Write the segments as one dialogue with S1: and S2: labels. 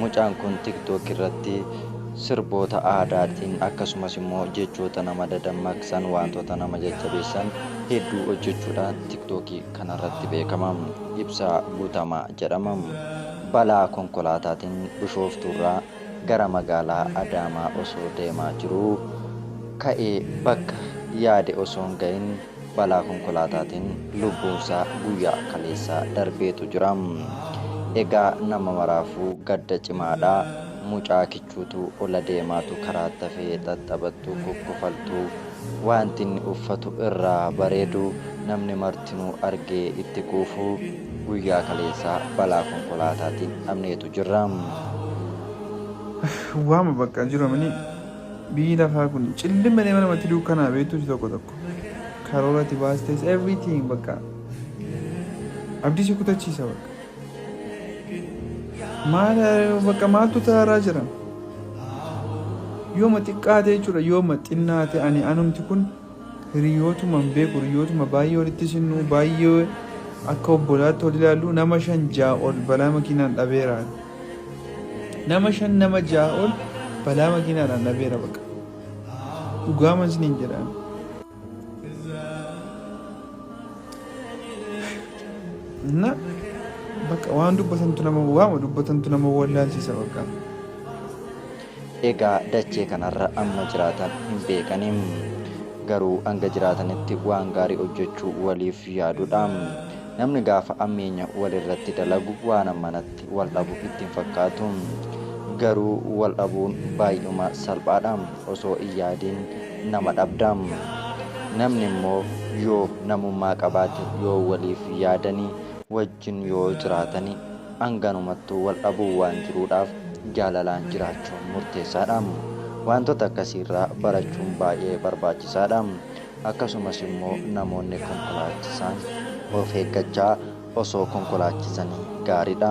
S1: Mucaan kun TikTok irratti sirboota aadaatiin akkasumas immoo jechoota nama dadammaqsan waantota nama jajjabeessan hedduu hojjechuudhaan TikTok kanarratti beekama. Ibsaa Guutamaa jedhama. Balaa konkolaataatiin Bishooftuurraa gara magaalaa Adaamaa osoo deemaa jiruu ka'ee bakka yaade osoo hin ga'iin balaa konkolaataatiin lubbuunsaa guyyaa kaleessaa darbeetu jira. Egaa nama maraafuu gadda cimaadha. Mucaa kichuutu ola deemaatu karaatti hafee xaxxabattuu kukkufaltuu wanti inni uffatu irraa bareedu namni martinuu argee itti quufu guyyaa kaleessaa balaa konkolaataatiin dhabneetu jirra.
S2: Waama bakka jiru amini. Biyyi lafaa kun cillima deema namatti duukkanaa beektuu si tokko tokko karoora itti baastes everything bakka abdii si kutachiisa bakka maal bakka maaltu taaraa jira yooma xiqqaate jechuudha yooma xinnaate ani anumti kun Hiriyootuma hin beeku hiriyootuma baay'ee walitti sinnuu baay'ee akka obbolaatti wal ilaallu nama shan ja'a ol balaa makiinaan dhabeera. Nama shan nama ja'a ol balaa makiinaadhaan dhabeera baqa. Dhugaaman isiniin jedhaan. Na bakka waan dubbatantu nama waama dubbatantu nama wallaalchisa bakka. Egaa
S1: dachee kanarra amma jiraatan hin beekani. Garuu hanga jiraatanitti waan gaarii hojjechuu waliif yaadudha. Namni gaafa ammeenya walirratti dalagu waan ammanatti wal dhabu itti hin fakkaatu. Garuu wal dhabuun baay'uma salphaadha. Osoo hin yaadiin nama dhabda. Namni immoo yoo namummaa qabaate, yoo waliif yaadanii, wajjin wajjin yoo jiraatani hanganumattuu wal dhabuun waan jiruudhaaf jaalalaan jiraachuun murteessaadha. Waantota akkasiirraa barachuun baay'ee barbaachisaadha. Akkasumas immoo namoonni konkolaachisaan of eeggachaa osoo konkolaachisanii gaariidha.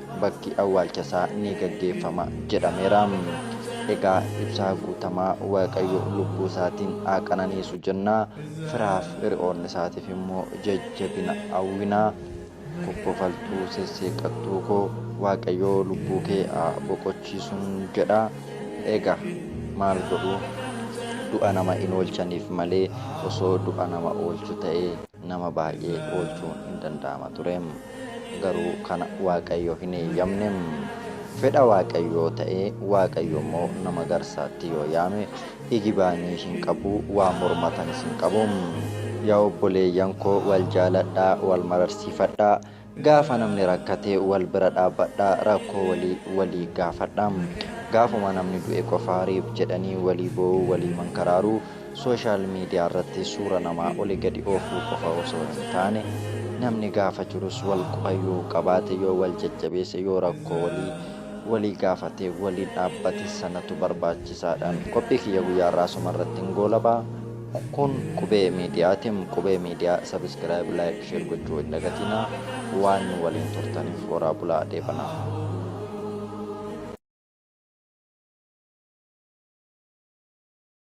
S1: bakki awwaalchasaa ni gaggeeffama jedhameera. Egaa Ibsaa Guutamaa Waaqayyo lubbuu isaatiin haa qananiisu jenna. Firaaf hiriyoonni isaatiif immoo jajjabina hawwina. Kokkofaltuu sesseeqqattuu koo Waaqayyo lubbuu kee haa boqochiisuun jedha. Egaa maal godhu du'a nama hin oolchaniif malee osoo du'a nama oolchu ta'e nama baay'ee oolchuun hin danda'ama ture. Garuu kana Waaqayyo hin eeyyamne. Fedha Waaqayyoo ta'ee Waaqayyo immoo nama garsaatti yoo yaame igibaanii hin qabu, waa mormatanis hin qabu. Yaa obboleeyyan koo wal jaaladhaa, wal mararsiifadhaa. Gaafa namni rakkate wal bira dhaabbadhaa, rakkoo walii walii gaafadhaa. Gaafuma namni du'e qofaa rip jedhanii walii boo'uu, walii mankaraaruu. Sooshaal miidiyaarratti suura namaa oli gadi oofuu qofa osoo hin taane, namni gaafa jirus wal quba yoo qabaate, yoo wal jajjabeesse, yoo rakkoo walii walii gaafatee waliin dhaabbate sanatu barbaachisaadha. Qophii kiyya guyyaa irraa asuma irrattin goolaba. Kun Qubee Miidiyaatim. Qubee Miidiyaa Subscribe, Like, Share gochuu hin dagatinaa. Waan nu waliin turtaniif horaa bulaa dheebanaa.